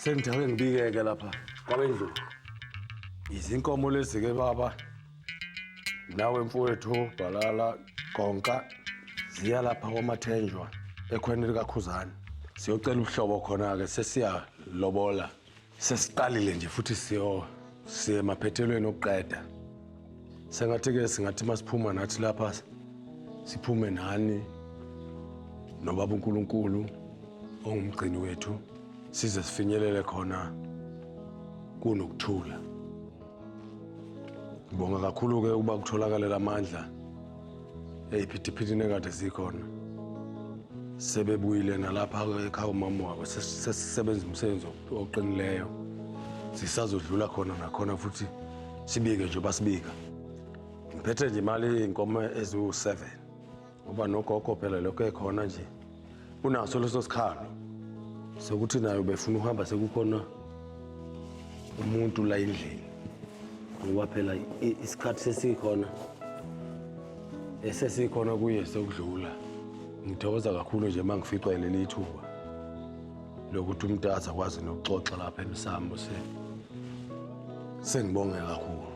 Sengijake ngibikeke lapha kwabendlulu. Izinkomo lezi ke baba. Nawe mfowethu Bhalala Konka ziya lapha kwamathenjwa ekhweni likaKhuzani. Siyocela ubuhlobo khona ke sesiya lobola. Sesiqalile nje futhi siyo siye emaphethelweni okuqeda. Sengathi ke singathi masiphuma nathi lapha siphume nani nobaba uNkulunkulu ongumgcini wethu size sifinyelele khona kunokuthula. Ngibonga kakhulu-ke ukuba kutholakale la mandla ey'phithiphithini ekade zikhona. Sebebuyile nalapha ekhaya umama wabo sesisebenza umsebenzi oqinileyo. Sisazodlula khona nakhona futhi sibike nje basibika. Ngiphethe nje imali iy'nkomo eziwu-seven. ngoba nogogo phela lokho ekhona nje unaso leso sikhalo sokuthi nayo befuna ukuhamba sekukhona umuntu la endlini ngoba phela isikhathi sesikhona esesikhona kuye sekudlula ngithokoza kakhulu nje uma ngificwa yileli ithuba lokuthi umntu aze akwazi nokuxoxa lapha emsambo se sengibonge kakhulu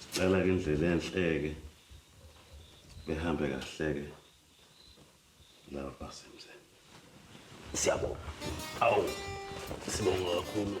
Sicela ke indlela enhleke behambe kahleke laba basemzini. Siyabonga. Awu. Sibonga kakhulu.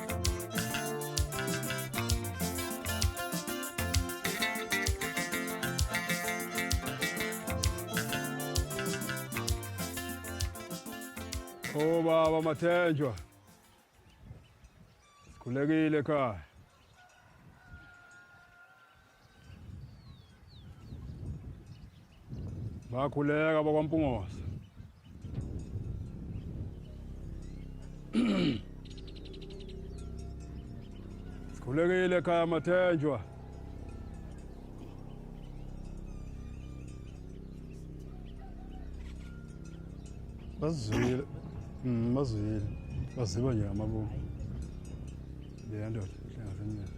Oh baba Mathenjwa. Sikhulekile ekhaya. bakhuleka bakwaMpungosa sikhulekile ekhaya Mathenjwa bazwile mm, bazwile baziba nje amabungu leya ndoda hlangasemnyaka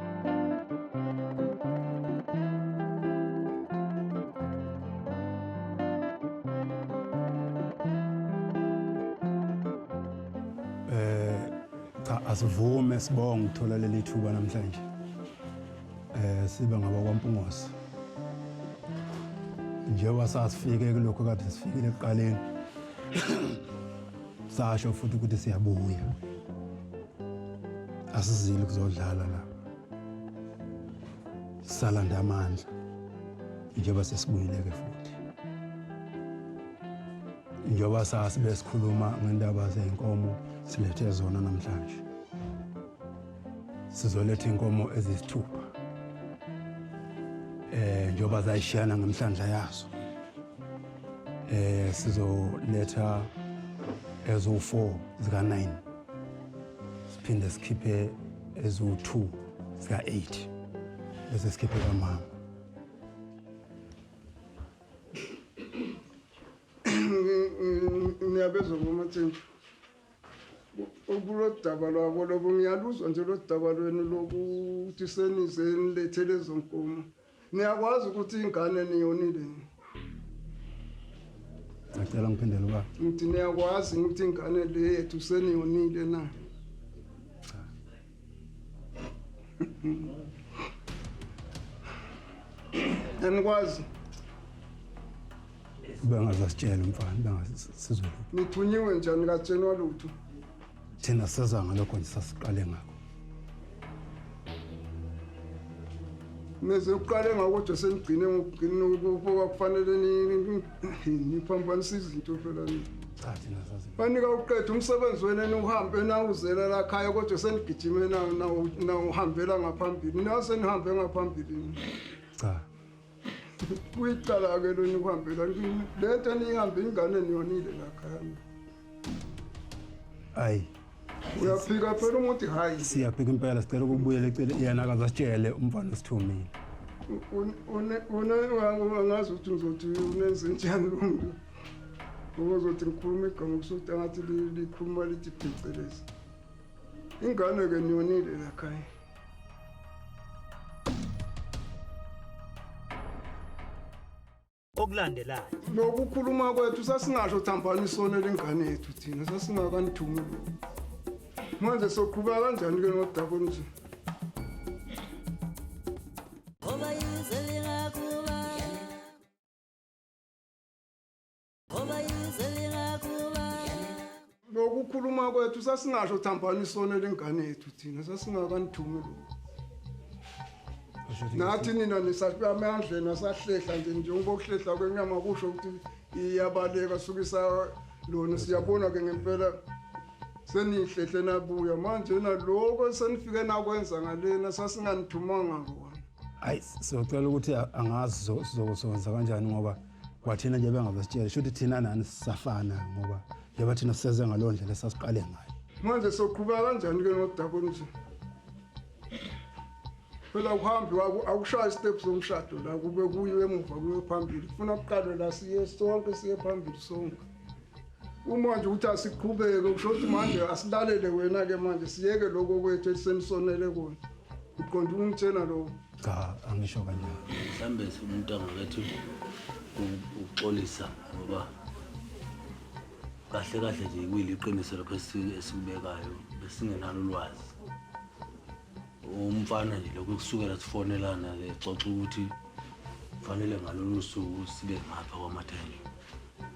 asivume sibonga ukuthola leli thuba namhlanje eh sibe ngabakwaMpungosi njengoba sasifike kulokho kade sifikile ekuqaleni sasho futhi ukuthi siyabuya asizile kuzodlala la salanda amandla njengoba sesibuyile-ke futhi njengoba sazi besikhuluma ngendaba zey'nkomo silethe zona namhlanje sizoletha iy'nkomo eziyisithupha eh njengoba zayishiyana ngemhlandla yazo eh sizoletha ezo-four zika-nine siphinde sikhiphe eziwu-2 zika-8 bese sikhiphe kamama ngiyabezwa ngomathenjwa kulo daba lwabo lobo ngiyaluzwa nje lo daba lwenu lokuthi senize nilethe lezo nkomo Niyakwazi ukuthi ingane niyonile yini? Ngicela ngiphindele ubaba. Ngithi niyakwazi ukuthi ingane le yethu seniyonile na? Anikwazi Bengaze asitshele umfana, bengaze sizwe lutho. nithunyiwe njani katsheni walutho? Thina sezwa ngalokho nje sasiqale ngakho. Neze uqale ngakho nje senigcine ngokugcina ukuba kufanele niphambanise izinto phela ni. Cha thina sazi. Banika uqeda umsebenzi wena niwuhambe nawuzela la khaya kodwa senigijime na na- nawuhambela ngaphambili. Nase nihambe ngaphambili. Cha. kuyicala-ke lo nikuhambela le nto eniyihambe ingane niyonile lakhana ayi uyaphika phela umuthi hayi siyaphika impela sicela ukubuyela ecele yena akazasitshele umfana osithumile angazi ukuthi ngizothi unenze njani lo mntu okozothi ngikhuluma igama kusuthi angathi likhuluma lithi phecelezi ingane-ke niyonile lakhaya okulandelayo nokukhuluma kwethu sasingasho thambani isono lengane yethu thina sasingakanithumi manje soqhubeka kanjani ke nodako nje lokukhuluma kwethu sasingasho thambani isona lengane yethu thina sasingakanithumi lokho nathi nina nisapamandleni asahlehla nje njengoba ukuhlehla kwenyama kusho ukuthi iyabaleka sukisa lona siyabona-ke ngempela seniyihlehle nabuya manje naloko senifike nakwenza ngalena sasinganithumanga kona hayi siyocela ukuthi angazi sizokuzokwenza kanjani ngoba kwathina nje bengaze sitshele shuthi thina nani sisafana ngoba njengoba thina siseze ngaleyo ndlela esasiqale ngayo manje soqhubeka kanjani ke nodaba olunje phela uhambi akushaya istep somshado la kube kuyo emuva kuyo phambili funa kuqalwe la siye sonke siye phambili sonke Uma nje ukuthi asiqhubeke kusho ukuthi manje asilalele wena-ke manje siyeke lokho kwethu esisenisonele kona uqonda ukungitshela lokho cha angisho kanjani mhlawumbe umuntu angakethu ukuxolisa ngoba kahle kahle nje kuyiliqiniso lokho esikubekayo besingenalo ulwazi umfana nje lokhu kusukela sifonelana ke xoxa ukuthi kufanele ngalolu suku sibe ngapha kwamathenge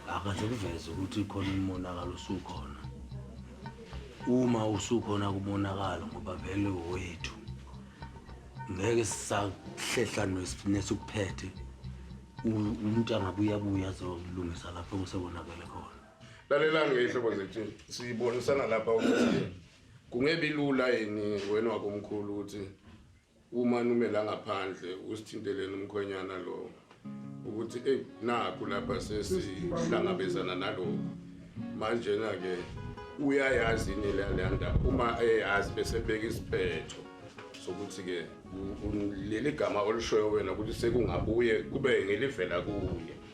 akaze kuveze ukuthi khona umonakalo usukhona uma usukhona kumonakalo ngoba vele wethu ngeke sisahlehla nesukuphethe umuntu angabe uyabuya azolungisa lapho kusekonakele khona lalela ngehlobo zethu sibonisana lapha ukuthi Kungebi lula yini wena wakomkhulu ukuthi uma nume la ngaphandle usithinteleni umkhwenyana lo ukuthi eyi nakho lapha sesihlangabezana nalokho manjena-ke uyayazi ini leya ndaba uma eyazi bese beka isiphetho sokuthi-ke leli gama olishoyo wena ukuthi sekungabuye kube ngelivela kuye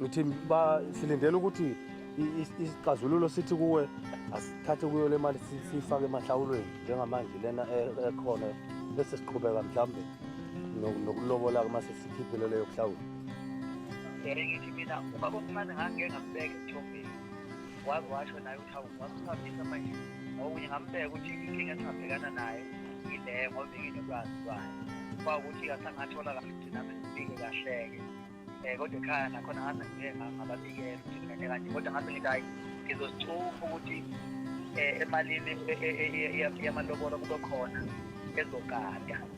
ngithi silindele ukuthi isixazululo sithi kuwe asithathe kuyo le mali siyifake emahlawulweni njengamanje lena e, ekhona bese siqhubeka mhlawumbe nokulobola-ke uma sesikhiphile leyo kuhlawula ngithi mina ubaba omncane ngangike ngambeka ethombeni waze washo naye ukuthi awu wasihambisa manje ngokunye ngambeka ukuthi inkinga esingabhekana nayo ile ngoba inginolwazi lwayo kwawukuthi kasangathola kahle ukuthi nami ngibike kahleke um eh, kodwa ekhaya nakhona ngaze ngike ngababikela ukuthi ngene kanje kodwa ngaze ngithi hayi ngizozithufa ukuthi um emalini yamalobolo kube khona ezogada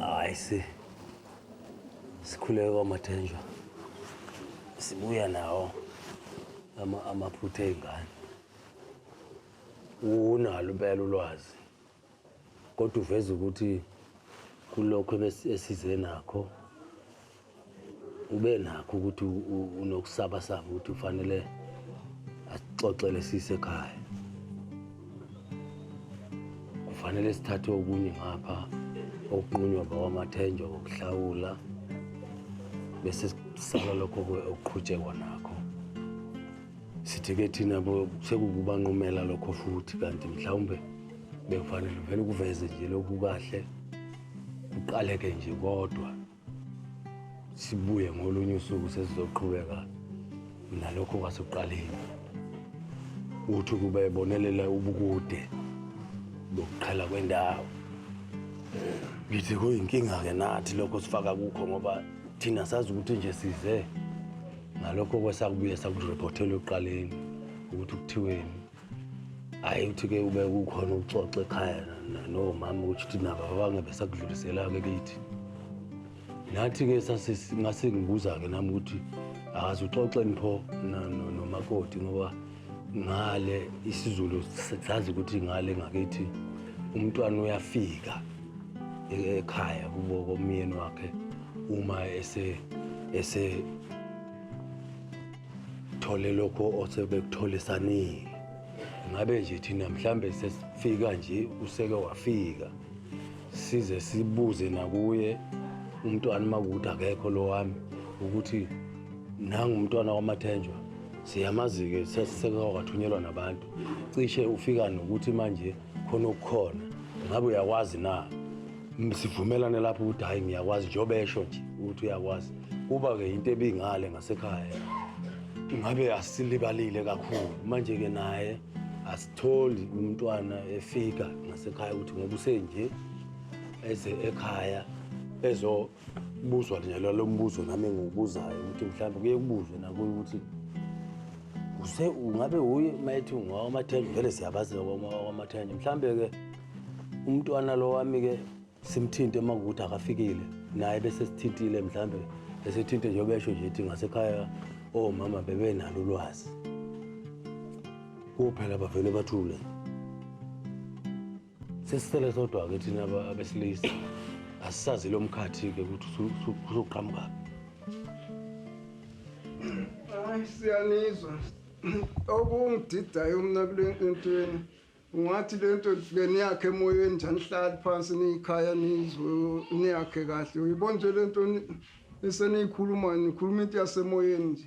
hayi si sikhuleke kwamathenjwa sibuya nawo ama- amaphutha ey'ngane unalo impela ulwazi Kodwa uveza ukuthi kulokho esize nakho ube nakho ukuthi unokusaba saba ukuthi ufanele asixoxele sisekhaya kufanele sithathe okunye ngapha okunqunywa bawamathenjwa ngokuhlawula bese sisala lokho okuqhutshekwa nakho sithi ke thina bo sekukubanqumela lokho futhi kanti mhlawumbe bekufanele vele ukuveze nje lokhu kahle kuqaleke nje kodwa sibuye ngolunye usuku sesizoqhubeka nalokho kwasekuqaleni uthi kube bonelela ubukude bokuqhela kwendawo ngithi kuyinkinga-ke nathi lokho sifaka kukho ngoba thina sazi ukuthi nje size ngalokho kwesakubuye sakurephothela ekuqaleni ukuthi kuthiweni hhayi ukuthi-ke ube kukhona ukuxoxa ekhaya nomama ukuthi uthi nabo abange besakudlulisela-ke kithi nathi-ke ngase ngibuza-ke nami ukuthi akaze uxoxeni pho nomakoti ngoba ngale isiZulu sazi ukuthi ngale ngakithi umntwana uyafika e-, ekhaya kubo komyeni wakhe uma ese ese thole lokho osebekutholisanile ngabe nje thina mhlambe sesifika nje useke wafika size sibuze nakuye umntwana makuthi akekho lo wami ukuthi nangu umntwana wamathenjwa siyamazi-ke sesekawathunyelwa nabantu cishe ufika nokuthi manje khona okukhona ngabe uyakwazi na M- sivumelane lapho ukuthi hhayi ngiyakwazi njengoba esho nje ukuthi uyakwazi kuba-ke yinto ebingale ngasekhaya ngabe asilibalile kakhulu manje-ke naye asitholi umntwana efika ngasekhaya ukuthi ngoba usenje eze ekhaya ezo Ubuzwa njalo lo mbuzo nami engiwubuzayo ukuthi mhlawumbe kuye kubuzwe nakuyo ukuthi use ungabe uye uma ethi ungawamathende vele siyabazi wamathende mhlawumbe-ke umntwana lo wami-ke simthinte uma kuwukuthi akafikile naye bese sithintile mhlawumbe esethinte njengoba esho nje ithi ngasekhaya omama bebenalo ulwazi kuphela bavele bathule Sesithele sodwa-ke thina abesilisa asisazi lo mkhathi-ke ukuthi usuqhamuka hayi siyanizwa okungididayo mna kule ntweni ungathi le nto ke niyakhe emoyeni njani hlali phansi niyikhaya nizwe niyakhe kahle uyibona nje le nto eseniyikhuluma nikhuluma into yasemoyeni nje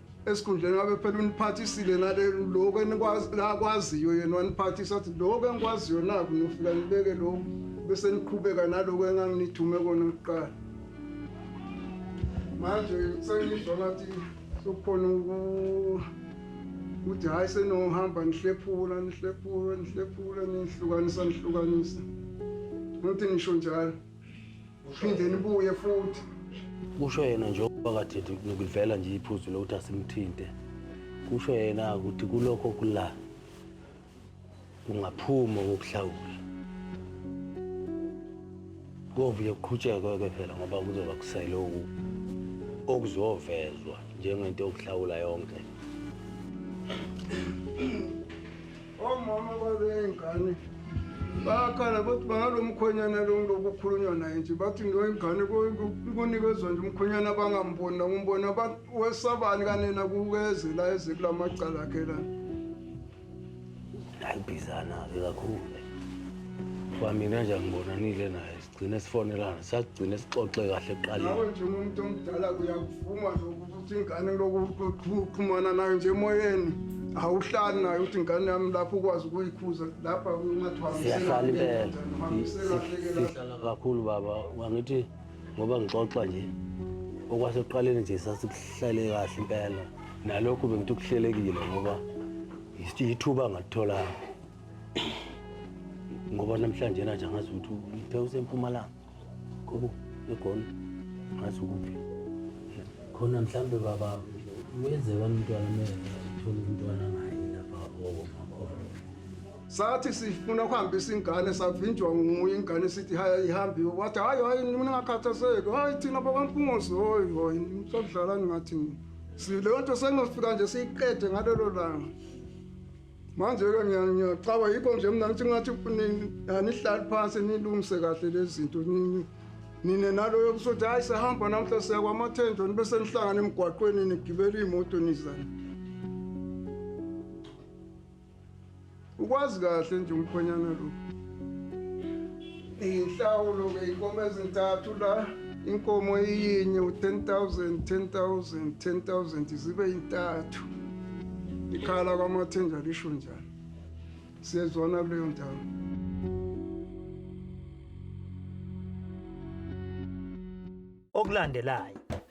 esikhundleni ngabe phela uniphathisile nale lokho enikwaziyo yena waniphathisa athi lokho engikwaziyo naku nofika nibeke lokho bese niqhubeka nalokho enganginithume kona kuqala manje sengizwa ngathi sokukhona ukuthi hhayi senohamba nihlephula nihlephula nihlephula nihlukanisa nihlukanisa nothi nisho njalo phinde nibuye futhi kusho yena njengoba kade ngilivela nje iphuzu lokuthi asimthinte kusho yena ukuthi kulokho kula kungaphuma kokuhlawula kovuye kuqhutshekwe-ke phela ngoba kuzoba kusele oku okuzovezwa njengento yokuhlawula yonke Omama baley'ngane bayakhala bathi banalo mkhwenyana lo ngilokukhulunywa naye nje bathi ndoyingane kunikezwa nje umkhwenyana abangamboni nakumbona wesabani kanena kukezela eze kula macala akhe la ayibhizana-ke kakhulu kwamina nje angibonanile naye gcine sifonelana sagcine sixoxe kahle kuqaleni nawe njengomuntu omdala uyakuvuma lokuthi ingane lokuxhumana nayo nje emoyeni awuhlali nayo ukuthi ingane yami lapho ukwazi ukuyikhuza lapha siyahlala impela sihlala kakhulu baba wangithi ngoba ngixoxa nje okwasekuqaleni nje sasikuhlele kahle impela nalokhu bengithi kuhlelekile ngoba yithuba ngalitholanga ngoba namhlanje nanje angazi ukuthi uthe usempumalanga kobo egona ngazi ukuphi khona mhlawumbe baba uyenzeka umntwana mele uthole umntwana ngaye lapha okomakhona sathi sifuna ukuhambisa ingane savinjwa nguye ingane sithi haya ihambiwe wathi hayi hayi ningakhathazeki hayi thina bakwampungozi hoyi hoyi sodlalani ngathi leyo nto sengofika nje siyiqede ngalelo langa Manje-ke ngiyacaba yikho nje mina ngithi ngathi anihlali phansi nilungise kahle lezi zinto nini nine naloyo kusothi hhayi sehamba namhla siya kwamathendo nibe senihlangana emgwaqweni nigibela iy'moto nizana ukwazi kahle nje umkhonyana lo Inhlawulo ke inkomo ezintathu la inkomo iyinye u-10000 10000 10000 zibe intathu ikhala kwamathenja lisho njani siyezwana kuleyo ndawo okulandelayo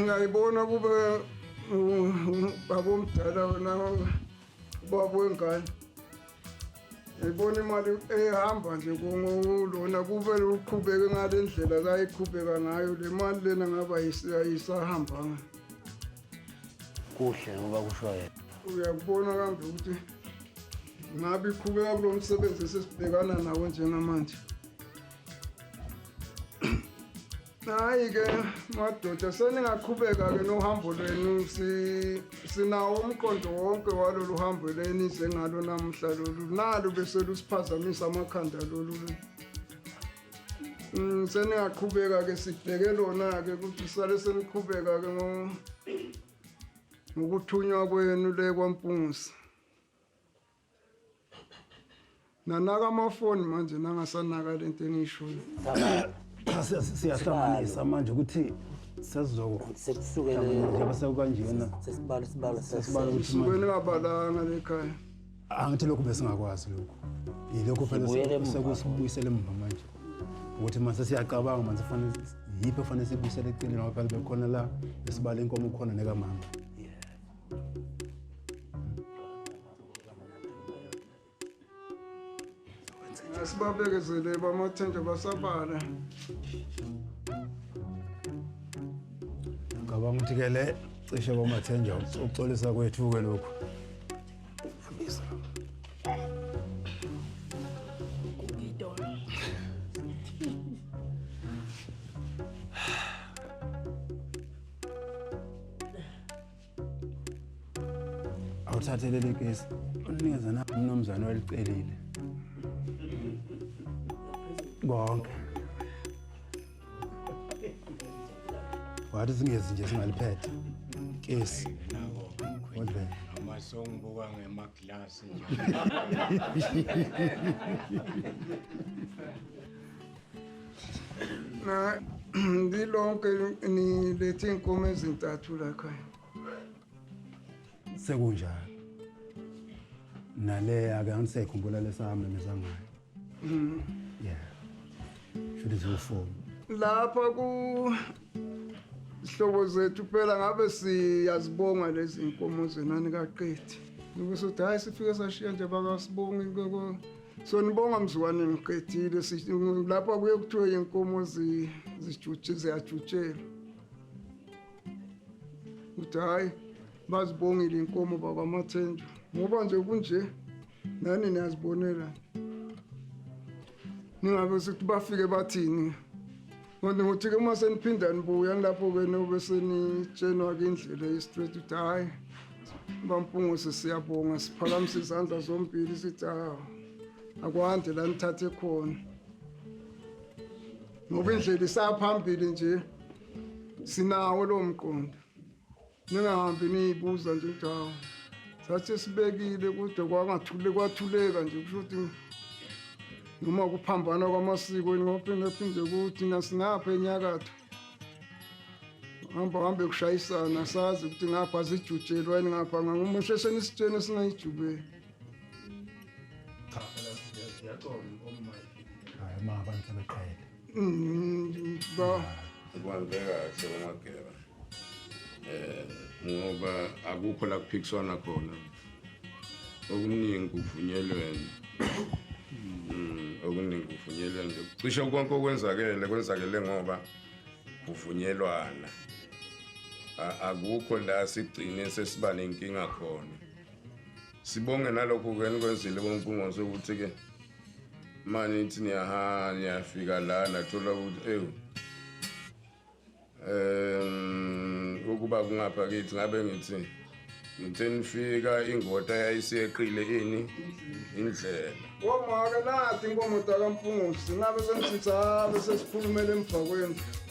ngayibona kube baba omdala wena ubaba wengane ngibona imali ehamba nje kulona kube uqhubeke ngale ndlela kayiqhubeka ngayo le mali lena ngaba ayisahambanga kuhle ngoba kusho yena uyakubona kambe ukuthi ngabe iqhubeka kulo msebenzi esesibhekana nawo njengamanje hayi-ke madoda seningaqhubeka-ke nohambo lwenu sinawo umqondo wonke walolu hambo lenize ngalo namuhla lolu nalo beselusiphazamisa amakhanda lolu Mm, seningaqhubeka-ke sibheke lona-ke ukuthi sale seniqhubeka-ke ngokuthunywa kwenu le kwampungusi nanaka amafoni manje nangasanaka le nto eniyishoyo siyahlanganisa manje ukuthi sesizokusukela njengoba sekukanjena sesibalo sibalo sesibalo ukuthi manje ningabalanga lekhaya angithi lokhu besingakwazi lokhu yilokhu phela Sibuyele emuva. sekusibuyisela emuva manje ukuthi mase siyacabanga manje fanele yiphi efanele sibuyisele eceleni ngoba phela bekhona la esibala inkomo khona nekamama Asibabekezele bamathenja basabala. ngicabanga ukuthi ke le cishe kwamathenja ukuxolisa kwethu-ke lokhu Awuthathe leli kesi unikeze na umnumzane welicelile konke wathi singezi nje singaliphethe kesi Kodwa noma songibuka ngemaglasi nje. Na ndilonke nilethe inkomo ezintathu la khaya. sekunjalo naleya ke angisekhumbula lesami mizangayo Mm. Yeah. Should is your phone. Lapha ku Sihlobo zethu phela ngabe siyazibonga lezi inkomo zenani kaqethi. Ukuthi uthi hayi sifike sashiya nje bakasibonga inkoko. Sonibonga mzwane ngiqedile lapha kuye kuthiwe inkomo zijutshe ziyajutshelwa. Uthi hayi bazibongile inkomo bakwamathenjwa. Ngoba nje kunje nani niyazibonela ningabe sithi bafike bathini kodwa ngothi-ke uma seniphinda nibuya nilapho-ke nobe senitshenwa-ke indlela yestraight ukuthi hhayi bampungose siyabonga siphakamisa izandla zombili sithi hawu akwande la nithathe khona ngoba indlela isaphambili nje sinawo lowo mqondo ningahambi niyibuza nje ukuthi hawu sathi sibekile kude kwangathule kwathuleka nje kusho ukuthi noma kuphambana kwamasiko ngophinde kuthi nasingapha enyakatho hamba hambe kushayisana sazi ukuthi ngapha zijutshelwa yini ngapha ngangomusho esenisitsheni esingayijubeli cha phela siyacola uma hayi ma abantu sebeqhele Mm, ba. Kubantu kahle bamageba. Eh ngoba akukho la kuphikiswana khona. Okuningi kuvunyelwene. Mm, okuningi kuvunyelwene. Cishe konke okwenzakele kwenzakele ngoba kuvunyelwana. Akukho la sigcine sesiba nenkinga khona. Sibonge nalokho ke nikwenzile bonkungose ukuthi ke manje ithi niyaha niyafika la nathola ukuthi ewu um ukuba kungapha kithi ngabe ngithi ngithe nifika ingota yayiseqile ini indlela ngomake nathi inkomo dakampungusi ngabe sengithitha bese sikhulumela emva kwendlu